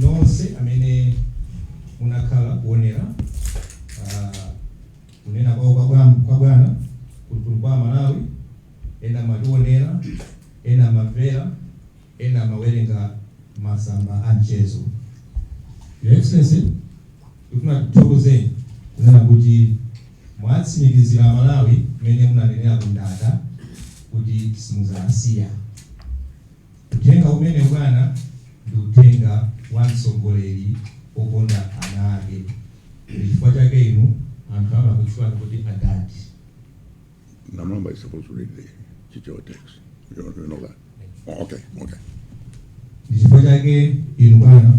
nonse amene munakhala kuonera uh, kunena kwao kwa bwana- kwa bwana ku mtundu wa amalawi ena amationera ena amamvera ena amawerenga masamba a mchezo your excellency ndikufuna kuthokozeni kunena kuti mwatsimikizira amalawi mmene munanenera kundata kuti simuzasiya Uthenga umenewu bwana ndi uthenga wa mtsogoleri okonda ana ake ndi chifukwa chake inu anthu amakutchulani kuti adadi. Namalomba is supposed to read the chichewa text. You know, you know that. Oh, okay, okay. Ndi chifukwa chake inu bwana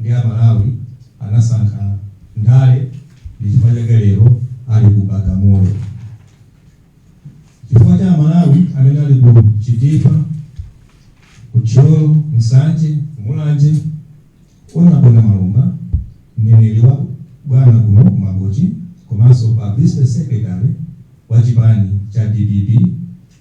Nde amalawi anasankha ndale ndichifukwa chake lero ali ku bagamoyo. Chifukwa cha amalawi amene ali ku chitipa, ku thyolo, nsanje, mulanje, honourable namalomba, mneneri wa bwana kuno ku mangochi komanso publicity secretary wa chipani cha dpp.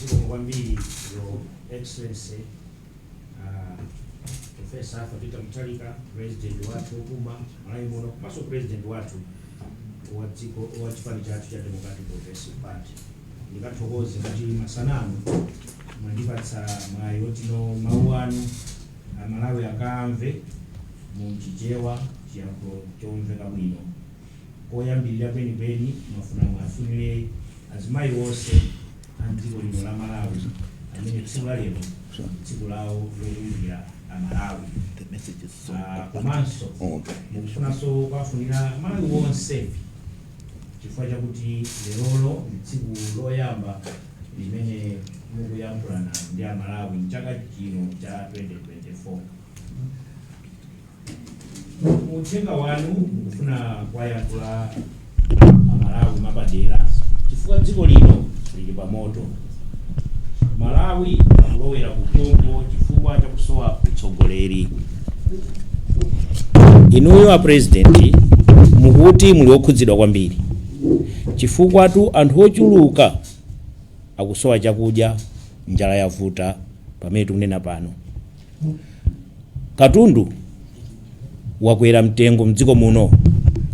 zikomo kwambiri your excellency ah, profesa arthur peter mutharika president wathu wopuma malawi muno komanso president wathu wa chipani chathu cha democratic progressive party ndikathokoze kuti masanamu mwandipatsa mwayi otino mawu anu amalawi akamve mu chichewa chiyankhulo chomveka bwino koyambilira kwenikweni mwafuna muwafunile azimayi onse a mdziko lino la Malawi amene tsiku la lero ndi tsiku lawo lokumbukira a Malawi Ah, komanso mukufunanso kuwafunira Malawi onse chifukwa chakuti lerolo ndi tsiku loyamba limene mukuyankhulana ndi a Malawi mchaka chino cha 2024 mu uthenga wanu mukufuna kuwayankhula amalawi mapadera chifukwa dziko lino lili pa moto malawi akulowera kuphompho chifukwa chakusowa utsogoleri inuyo a president mukuti muli okhudzidwa kwambiri chifukwatu anthu ochuluka akusowa chakudya njala yavuta pamene tikunena pano Katundu wakwera mtengo mdziko muno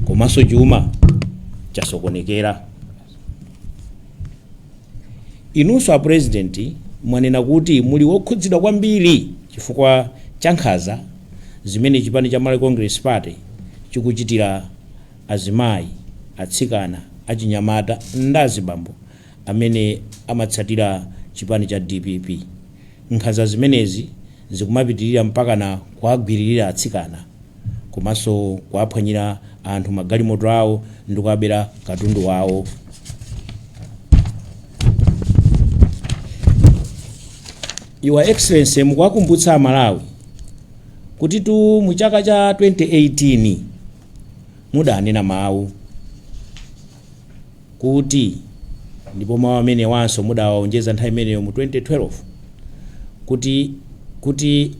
komanso chuma chasokonekera. Inunso a President mwanena kuti muli wokhudzidwa kwambiri chifukwa cha nkhanza zimene chipani cha Malawi Congress Party chikuchitira azimayi, atsikana, achinyamata ndi azibambo amene amatsatira chipani cha dpp. Nkhanza zimenezi zikumapitilira mpakana kuwagwiririra atsikana komanso kuwaphwanyira anthu magalimoto awo ndi kuwabera katundu wawo. Your Excellency, mukuwakumbutsa Amalawi kutitu mu chaka cha 2018 mudanena mawu kuti, ndipo mawu amenewanso mudawaonjeza nthawi imeneyo mu 2012, kuti, kuti,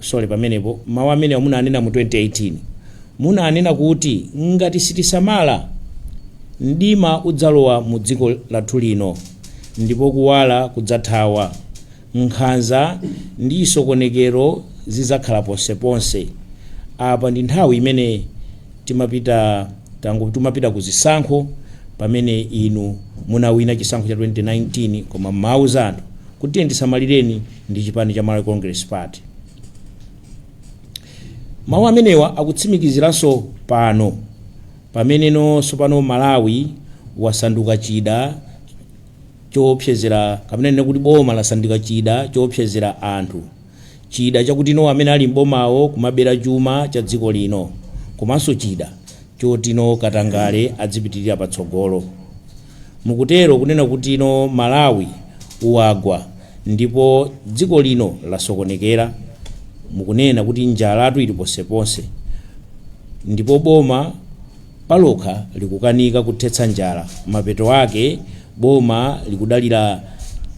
sorry, pamenepo, mawu amenewa munanena mu 2018, munanena kuti ngati sitisamala, mdima udzalowa mu dziko lathu lino ndipo kuwala kudzathawa. Nkhanza ndi chisokonekero zidzakhala ponseponse. Apa ndi nthawi imene ti timapita ku zisankho pamene inu munawina chisankho cha 2019 koma mumawuza anthu kuti tiyeni tisamaleni ndi chipani cha Malawi Congress Party. Mawu amenewa akutsimikiziranso pano pameneno tsopano Malawi wasanduka chida choopsezera kapena tinene kuti boma lasanduka chida choopsezera anthu chida chakutino amene ali m'bomawo kumabera chuma cha dziko lino komanso chida chotino katangale adzipitirira patsogolo mukutero kunena kutino Malawi wagwa ndipo dziko lino lasokonekera mukunena kuti njalatu ili ponseponse ndipo boma palokha likukanika kuthetsa njala, mapeto ake boma likudalira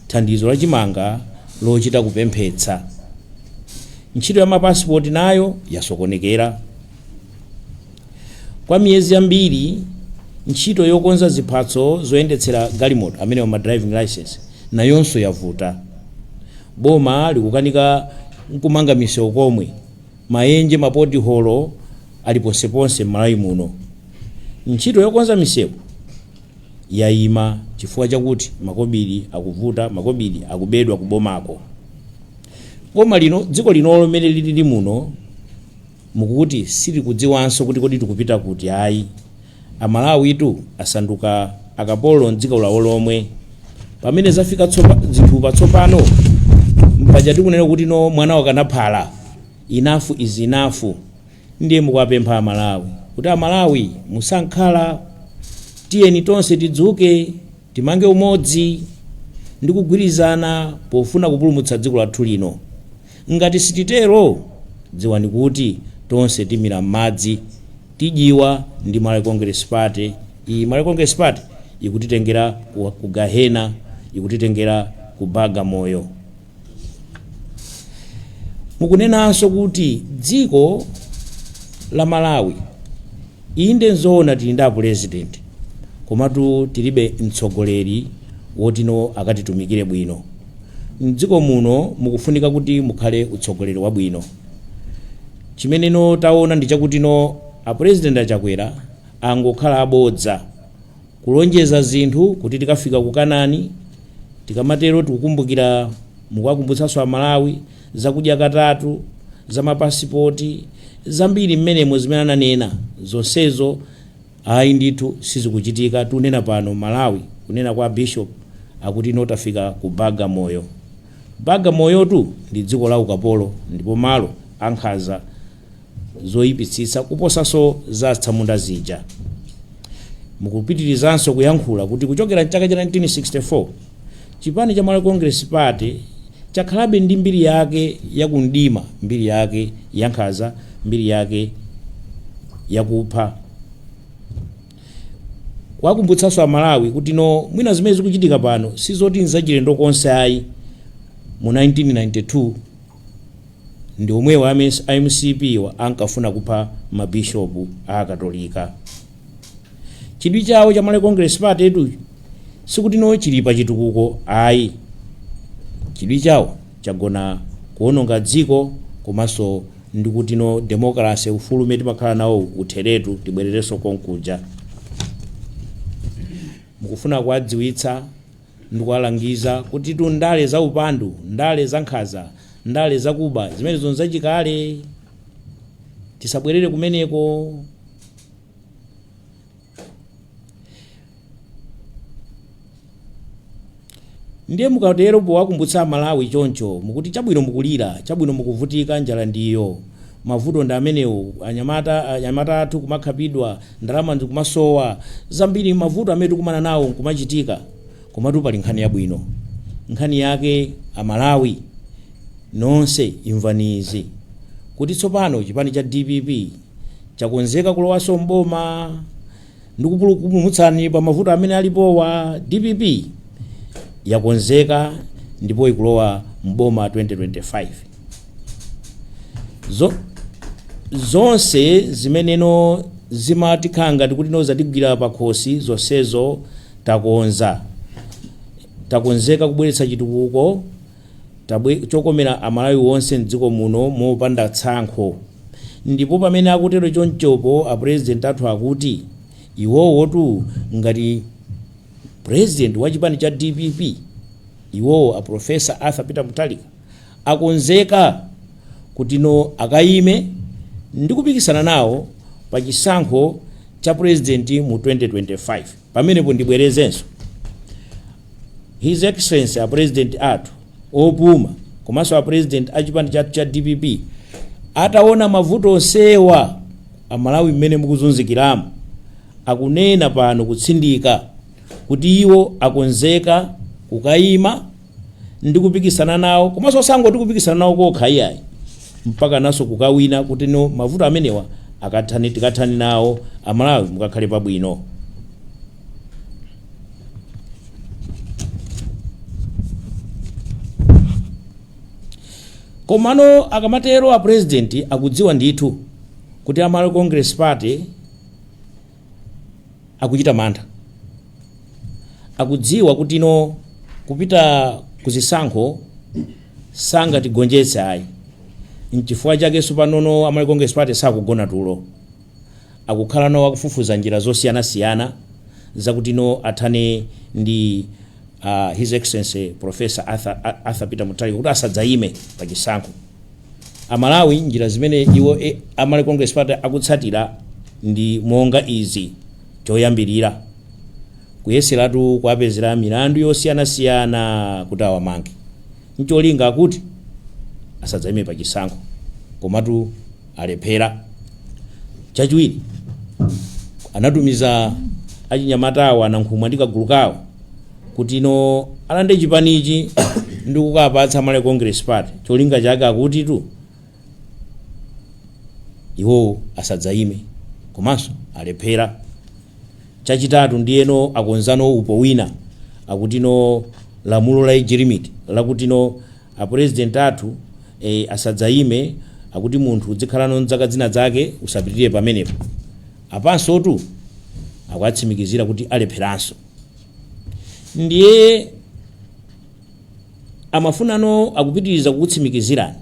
thandizo la chimanga lochita kupemphetsa. Ntchito ya mapasipoti nayo yasokonekera. Kwa miyezi yambiri ntchito yokonza ziphatso zoyendetsera galimoto amenewa ma driving license nayonso yavuta. Boma likukanika nkumanga misewu komwe. Maenje, mapotiholo ali ponseponse m'Malawi muno. Ntchito yokonza misewu yaima chifukwa chakuti makobiri akuvuta, makobiri akubedwa kubomako. Boma lino, dziko linolo mmene lilili muno mukuti silikudziwanso kuti kodi tikupita kuti ayi. Amalawitu asanduka akapolo mdziko lawo lomwe. Pamene zafika zinthu pa tsopano mpaja tikunena kutino mwana wakana phala enough is enough. Ndiye mukuwapempha amalawi kuti amalawi musakhale tiyeni tonse tidzuke. Timange umodzi ndi kugwirizana pofuna kupulumutsa dziko lathu lino. Ngati sititero, dziwani kuti tonse timira m'madzi, tidyiwa ndi Malawi Congress Party. Iyi Malawi Congress Party ikutitengera ku gahena, ikutitengera ku baga moyo. mukunenanso kuti dziko la malawi inde nzoona tili ndi apulezidenti komatu tilibe mtsogoleri woti no akatitumikire bwino mdziko muno mukufunika kuti mukhale utsogoleri wabwino chimene no taona ndi chakuti no apulezidenti achakwera angokhala abodza Kulonjeza zinthu kuti tikafika ku Kanani, tikamatero tikukumbukira mukuwakumbutsanso a Malawi za kudya katatu, za ma passport, zambiri mmenemo zimene ananena zonsezo ayi ndithu sizikuchitika, tikunena pano Malawi kunena kwa Bishop akuti no tafika ku Bagamoyo. Bagamoyotu ndi dziko la ukapolo ndipo malo ankhanza. zoipitsitsa kuposanso za atsamunda zija. Mukupitirizanso kuyankhula kuti kuchokera m'chaka cha 1964 chipani cha Malawi Congress Party chakhalabe ndi mbiri yake ya kumdima, mbiri yake yankhanza, mbiri yake yakupha. Kuwakumbutsanso Amalawi kuti no mwina zimene zikuchitika pano si zoti nzachilendo konse ayi mu 1992 ndi omwewa a mcp wa ankafuna kupha ma bishop a akatolika. Chidwi chawo cha Malawi Congress Party tu sikuti no chili pa chitukuko ayi. Chidwi chawo chagona kuononga dziko komanso ndi kuti no democracy, ufulu umene timakhala nawo utheretu tibwererenso konkuja. Mukufuna kuwadziwitsa Ndikuwalangiza kutitu ndale za upandu, ndale za nkhanza, ndale za kuba, zimenezo nzachikale. Tisabwerere kumeneko. Ndiye mukatero powakumbutsa Amalawi choncho, mukuti chabwino mukulira, chabwino mukuvutika, njala ndi iyo. Mavuto ndi amenewo anya anyamata athu kumakhapidwa ndalama ndikumasowa zambiri mavuto amene tikumana nawo nkumachitika komatu pali nkhani yabwino nkhani yake amalawi nonse imvani izi kuti tsopano chipani cha dpp chakonzeka kulowaso m'boma ndi kukupulumutsani pa mavuto amene alipowa dpp yakonzeka ndipo ikulowa mboma 2025 zonse zimeneno zimatikhanga ngati kuti no zatigwira pakhosi zonsezo takonza takonzeka kubweretsa chitukuko chokomera amalawi onse mdziko muno mopanda tsankho ndipo pamene akutero chomchopo a president athu akuti iwowotu ngati president wa chipani cha dpp iwowo a professor arthur peter mutharika akonzeka kuti no akayime ndi kupikisana nawo pa chisankho cha president mu 2025 Pamenepo ndibwerezenso, His Excellency a President athu opuma komanso a President a chipani chathu cha dpp ataona mavuto onsewa a Malawi mmene mukuzunzikiramu akunena pano kutsindika kuti iwo akonzeka kukayima ndi kupikisana nawo komanso osangoti kupikisana nawo kokha iyayi mpakananso kukawina kuti no mavuto amenewa akathani tikathani nawo amalawi mukakhale pabwino komano akamatero a president akudziwa ndithu kuti a malawi congress party akuchita mantha akudziwa kuti no kupita ku zisankho sangatigonjetse ayi nchifukwa chake sopanono a malawi congress party sakugona tulo akukhala no akufufuza njira zosiyanasiyana zakuti no athane ndi uh, his excellency professor arthur peter mutharika kuti asadzayime pa chisankho Amalawi njira zimene iwo a Malawi Congress Party akutsatira ndi monga izi, Choyambirira, kuyeseratu kuwapezera milandu yosiyanasiyana kuti awamange n'cholinga chakuti asadzaime pachisankho. Komatu. alephera. Chachiwiri, anatumiza achinyamata awo a Nankhumwa ndi kagulu kawo kuti no alande chipanichi ndi kukapatsa Malawi Congress Party cholinga chake chakutitu iwo asadzayime komanso alephera. Chachitatu ndiyeno akonzanso upo wina wakuti no lamulo la age limit lakuti no A president athu ee asadzayime akuti munthu udzikhalano ndi zaka zinazake usapitirire pamenepo apansotu akuwatsimikizira kuti alepheranso ndiye amafunano akupitiriza kukutsimikizirani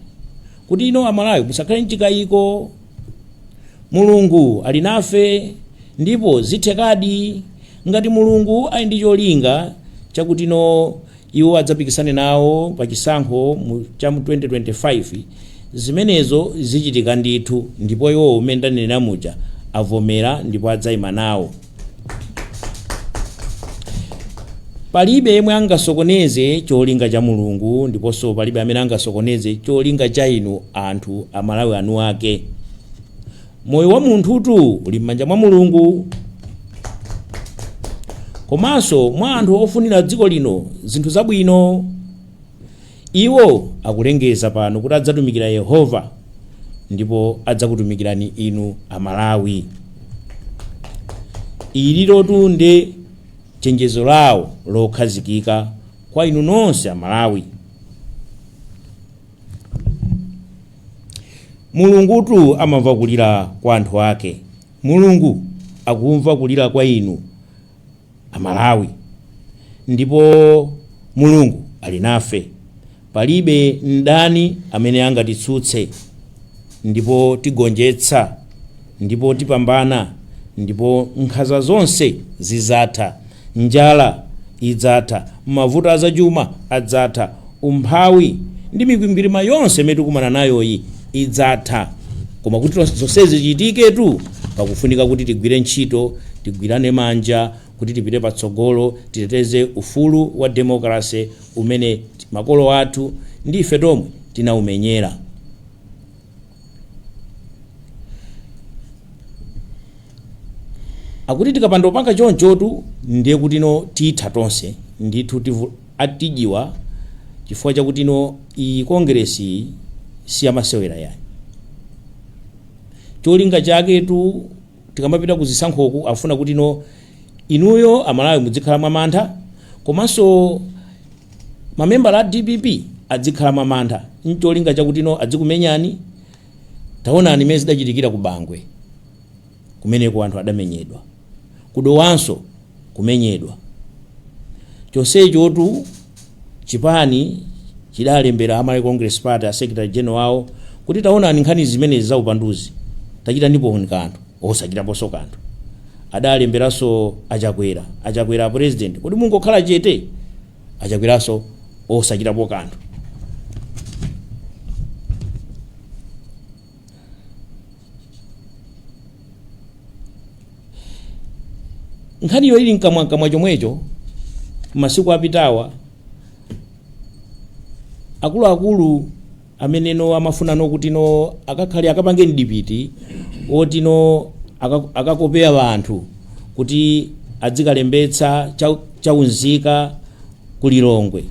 kuti no Amalawi musakhale ndi chikayiko Mulungu ali nafe ndipo zithekadi ngati Mulungu ali ndi cholinga chakuti no iwo adzapikisane nawo pa chisankho mu cha mu 2025 zimenezo zichitika ndithu ndipo iwowo mmene ndanenera muja avomera ndipo adzaima nawo palibe yemwe angasokoneze cholinga cha Mulungu ndiponso palibe amene angasokoneze cholinga cha inu anthu Amalawi anu ake Moyo wa munthutu uli m'manja mwa Mulungu komanso mwa anthu ofunira dziko lino zinthu zabwino. Iwo akulengeza pano kuti adzatumikira Yehova ndipo adzakutumikirani inu Amalawi. Ililotu nde chenjezo lawo lokhazikika kwa inu nonse Amalawi. Mulungutu amamva kulira kwa anthu ake Mulungu akumva kulira kwa inu Amalawi ndipo Mulungu ali nafe palibe mdani amene angatitsutse ndipo tigonjetsa Ndipo tipambana, ndipo nkhanza zonse zidzatha, njala idzatha, mavuto a zachuma adzatha, umphawi ndi mikwingwirima yonse imene tikumana nayoyi idzatha. Koma kuti tonse- zonsezi zichitiketu, pakufunika kuti tigwire ntchito, tigwirane manja kuti tipite patsogolo, titeteze ufulu wa demokrase umene makolo athu ndi ife tomwe tinaumenyera. akuti tikapanda kupanga chonchotu ndiye kuti no titha tonse ndithu tivu- tidyiwa chifukwa chakuti no iyi Kongeresi iyi siyamasewera yayi cholinga chaketu tikamapita ku zisankhoku afuna kuti no inuyo Amalawi mudzikhala mwamantha komanso mamembala a DPP adzikhala mwamantha ncholinga chakuti no adzikumenyani taonani mmene zidachitikira ku Bangwe kumeneko anthu adamenyedwa ku Dowanso kumenyedwa. Chonsechotu chipani chidalembera a Malawi Congress Party a Secretary General awo kuti taonani nkhani zimenezi za upanduzi tachitaniponi kanthu. Osachitaponso kanthu. Adalemberanso a Chakwera. A Chakwera a President kodi mungokhala chete? A Chakweranso osachitapo kanthu. nkhaniyo ili mkamwamkamwa chomwecho masiku apitawa akuluakulu amene no amafunano kuti no akakhale akapange mdipiti oti no aka- akakopera wanthu kuti adzikalembetsa cha- chaunzika ku lilongwe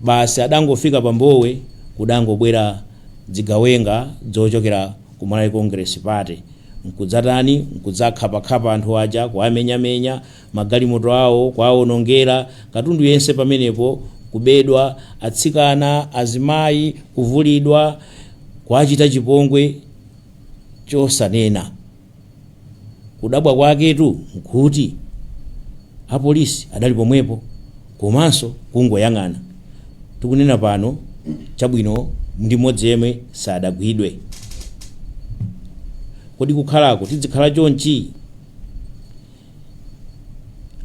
Basi adangofika pa Mbowe kudangobwera dzigawenga dzochokera ku Malawi Congress Party nkudzatani, nkudzakhapakhapa anthu aja, kuwamenyamenya, magalimoto awo kuwawonongera, katundu yense pamenepo kubedwa, atsikana, azimayi kuvulidwa, kuwachita chipongwe chosanena. kudabwa kwaketu nkuti apolisi adali pomwepo komanso kungoyang'ana tikunena pano chabwino ndi mmodzi yemwe sadagwidwe kodi kukhalako tidzikhala chonchi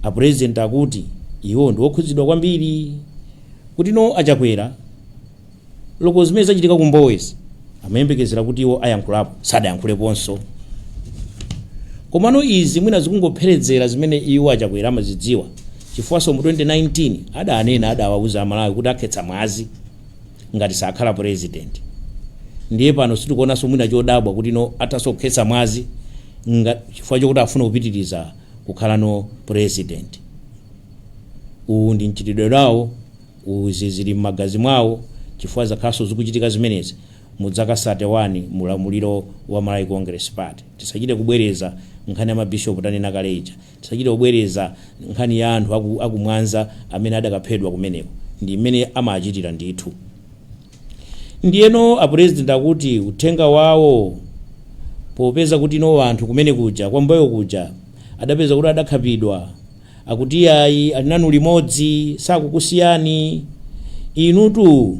apurezidenti akuti iwo ndi okhudzidwa kwambiri kuti no achakwera Loko zimene zachitika ku Mbowezi amayembekezera kuti iwo ayankhulapo, sadayankhuleponso. Komano izi mwina zikungopherezera zimene iwo achakwera amadziwa chifukwaso mu 2019 adanena adawauza amalawi kuti akhetsa mwazi ngati sakhala president ndiye pano sitikuonaso mwina chodabwa kuti no athaso kukhetsa mwazi nga- chifukwa chokuti afuna kupitiriza kukhala no president uwu ndi mchitidwe wawo Izi zili mmagazi mwawo chifukwa zakhalanso zikuchitika zimenezi mu dzaka sate wani mu ulamuliro wa Malawi Congress Party. Tisachite kubwereza nkhani ya ma Bishop tanena kale ija. Tisachite kubwereza nkhani ya anthu aku aku Mwanza amene adakaphedwa kumeneko. Ndi mmene amachitira ndithu. Ndiyeno a President akuti uthenga wawo popeza kuti no anthu kumene kuja kwa Mbowe kuja adapeza kuti adakhapidwa Akuti iyayi ali nanu limodzi sakukusiyani inutu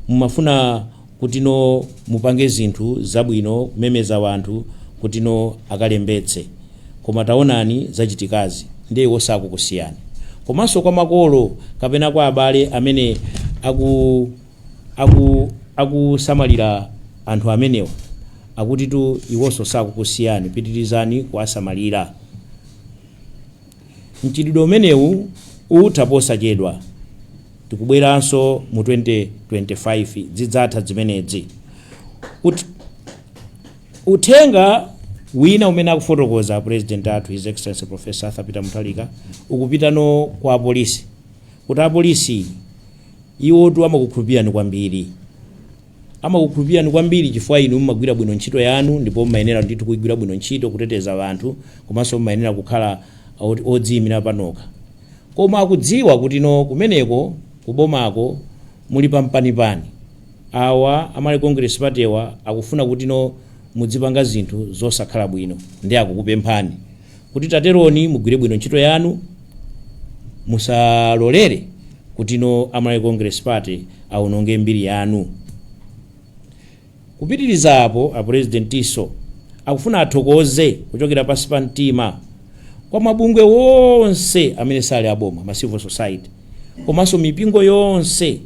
mumafuna kutino mupange zinthu zabwino kumemeza wanthu kutino akalembetse koma taonani zachitikazi ndiye iwo sakukusiyani komanso kwa makolo kapena kwa abale amene aku aku akusamalira anthu amenewa akutitu iwonso sakukusiyani pitirizani kuwasamalira. Mchitidwe umenewu utha posachedwa. Tikubweranso mu 2025 zidzatha dzimenedzi. Ut, uthenga wina umene akufotokoza president athu his excellency professor arthur peter Mutharika ukupitano kwa apolisi kuti apolisi iwotu amakukhulupirirani kwambiri Amakukhulupirirani kwambiri chifukwa inu mumagwira bwino ntchito yanu ndipo mumayenera ndithu kuigwira bwino ntchito, kuteteza anthu komanso mumayenera kukhala odziyimira panokha. Koma akudziwa kuti inu kumeneko kubomako muli pa mpanipani. Awa a Malawi Congress Party'wa akufuna kuti inu mudzipanga zinthu zosakhala bwino nde akukupemphani. kuti taterani mugwire bwino ntchito yanu musalolere kutino a Malawi Congress party awononge mbiri yanu kupitiriza apo apurezidentinso akufuna athokoze kuchokera pansi pa mtima kwa mabungwe onse amene sali aboma ma civil society komanso mipingo yonse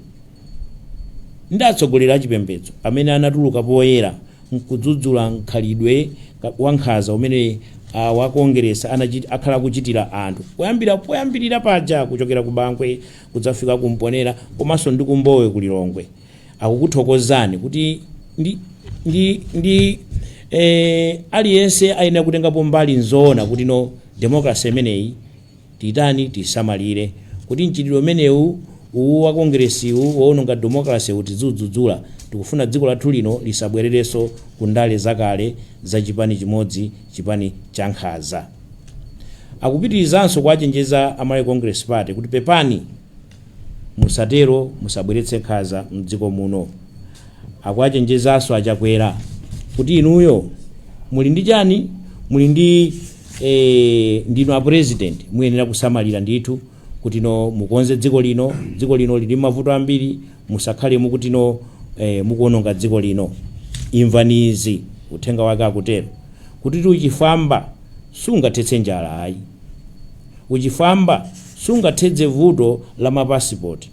ndi atsogoleri achipembedzo amene anatuluka poyera nkudzudzula mkhalidwe wankhanza umene awo a Kongeresi anachit, akhala akuchitira anthu kuyambira poyambilira paja kuchokera ku Bangwe kudzafika ku Mponela komanso ndi ku Mbowe ku Lilongwe. Akukuthokozani kuti ndi, ndi, ndi eh, aliyense ayenera kutengapo mbali nzoona kutino democracy imeneyi Titani? Tisamalire kuti mchitidwe umenewu uwu wa Kongeresiwu wowononga demokalasewu tidziudzudzula. Tikufuna dziko lathu lino lisabwererenso ku ndale zakale za chipani chimodzi, chipani chankhanza. Akupitirizanso kuwachenjeza a Malawi Congress Party kuti, Pepani! Musatero musabweretse nkhanza mdziko muno. Akuwachenjezanso a Chakwera kuti inuyo muli ndi chani? Muli ndi ee ndinu a president muyenera kusamalira ndithu kutino mukonze dziko lino. Dziko lino lili mmavuto ambiri musakhale mukutino ee mukuononga dziko lino. Imvani izi, uthenga wake akutero. Kutitu uchifwamba sungathetse njala ayi. Uchifwamba sungathetse vuto la ma passport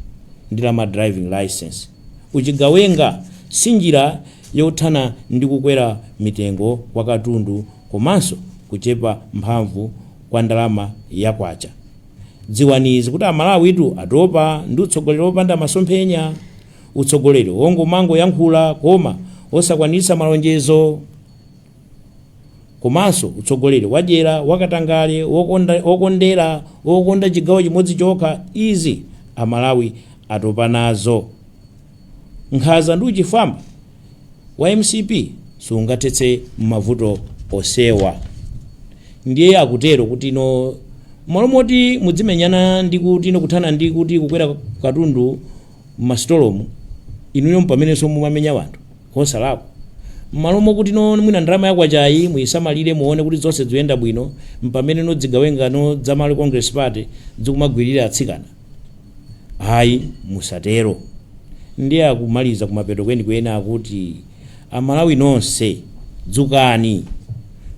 ndi la ma driving licence. Uchigawenga si njira yothana ndi kukwera mitengo kwa katundu komanso kuchepa mphamvu kwa ndalama ya kwacha. Dziwani izi kuti Amalawitu atopa ndi utsogoleri opanda masomphenya. Utsogoleri ongomangoyankhula koma osakwanitsa malonjezo. Komanso utsogoleri wadyera, wakatangale, wokonda, wokondera, wokonda chigawo chimodzi chokha, izi Amalawi atopa nazo. Nkhanza ndi uchifwamba wa mcp sungathetse mavuto onsewa. Ndiye akutero kuti no mmalo moti mudzimenyana ndi kuti no kuthana ndi kuti kukwera katundu m'masitolomu, inuyo mpamenenso mumamenya wanthu. Osalakwa. Mmalo mokuti no mwina ndalama ya kwachayi muyisamalire muone kuti zonse zikuyenda bwino, mpamene no zigawenga no za Malawi Congress Party zikumagwiririra atsikana? Ayi musatero. Ndiye akumaliza kumapeto kwenikweni akuti a Malawi nonse dzukani,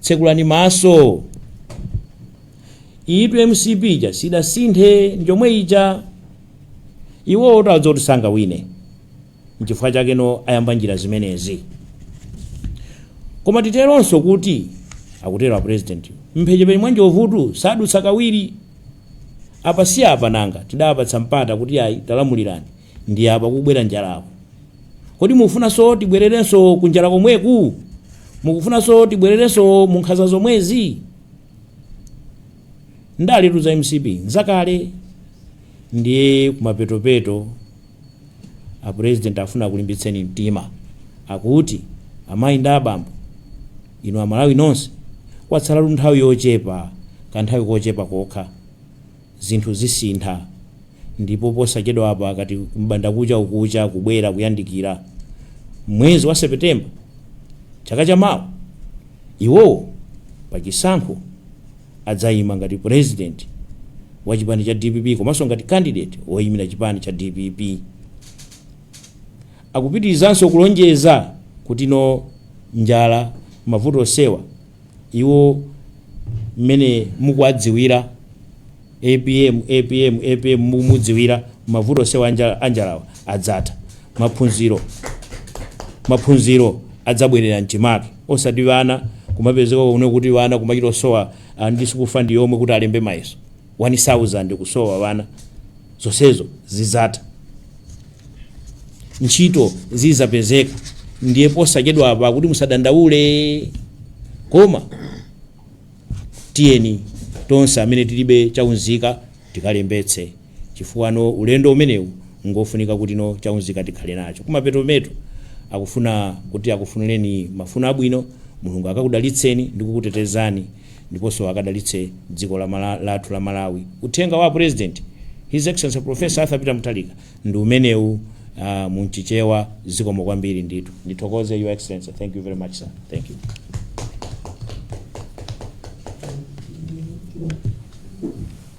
tsekulani maso. Iyitu mcp ija sidasinthe njomwe ija. Iwowotu adziwa kuti sangawine. Nchifukwa chake no ayamba njira zimenezi. Koma titeronso kuti, akutero apulezidentiwo, m'mphechepeche mwa njovutu sadutsa kawiri. Apa si apa nanga, tidapatsa mpata kuti ayi, talamulirani, ndiye apa kukubwera njalaku. Kodi mukufunanso tibwererenso ku njala komweku? Mukufunanso tibwererenso mu nkhanza zomwezi? Ndaletu za mcp nzakale, ndiye kumapetopeto A president afuna akulimbitseni mtima akuti amayi ndi abambo inu amalawi nonse kwatsalatu nthawi yochepa kanthawi kochepa kokha zinthu zisintha ndipo posachedwapa akati m'bandakucha ukucha kubwera kuyandikira mwezi wa Sepetemba chaka chamawa iwowo pachisankho adzaima ngati president wa chipani cha dpp komanso ngati candidate woimira chipani cha dpp. Akupitirizanso kulonjeza kuti no njala mavuto onsewa iwo mmene mukuwadziwira apm apm apm mukumudziwira mavuto onsewa anjalawa adzatha maphunziro adzabwerera mchimake osati vana kumapezeka kuno kuti vana kumachita osowa a ndi sukulu fandi yomwe kuti alembe mayeso 1000 kusowa vana zonsezo zidzatha ntchito zidzapezeka ndiye posachedwa apa kuti musadandaule koma tiyeni tonse amene tilibe chaunzika tikalembetse chifukwa no ulendo umenewu ngofunika kuti no cha unzika tikhale nacho kumapetopeto akufuna kuti akufunireni mafuno abwino mulungu akakudalitseni ndi kukutetezani ndiponso akadalitse dziko lathu la malawi uthenga wa president his excellency professor arthur peter mutharika ndi umenewu munchichewa zikomo kwambiri ndithu ndithokoze your excellency thank you very much sir thank you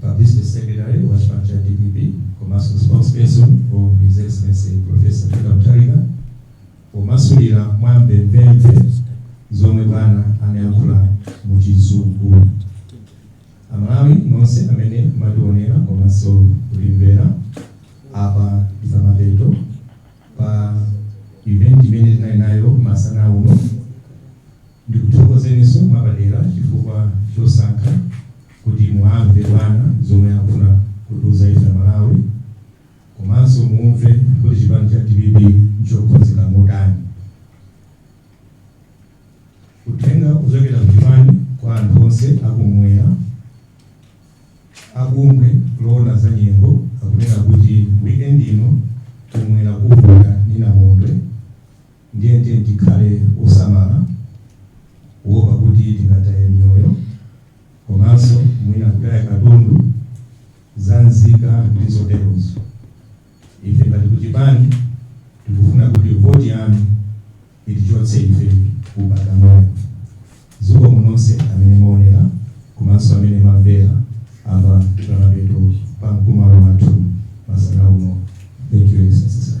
Publicity Secretary wa chipani cha dpp komanso spokesperson for His Excellency Professor Peter Mutharika pomasulira mwa mvemvemve zomwe bwana anayankhula mu chizungu. Amalawi nonse amene mmationera komanso kutimvera apa ndi pamapeto pa event imene tinali nayo masana uno Ndikuthokozeninso mwapadera chifukwa chosankha kuti muamve bwana zomwe akufuna kutiuza ife amalawi komanso muumve kuti chipani cha dpp nchokonzeka motani. Uthenga wochokera kuchipani kwa anthu onse akumwera, abungwe loona za nyengo akunena kuti weekend ino kumwera kuvuta ndi namondwe. Ndiye tiyeni tikhale osamala kuopa kuti tingataye miyoyo komanso mwina kutaya katundu zaunzika ndi zoterozo. Ife ngati kuchipani tikufuna kuti voti yanu itichotse ife ku bagamoyo. Zikomo nonse amene mwaonera komanso amene mwamvera apa ndi pamapeto pa mkumano wathu masana uno. Thank you, Excellency, sir.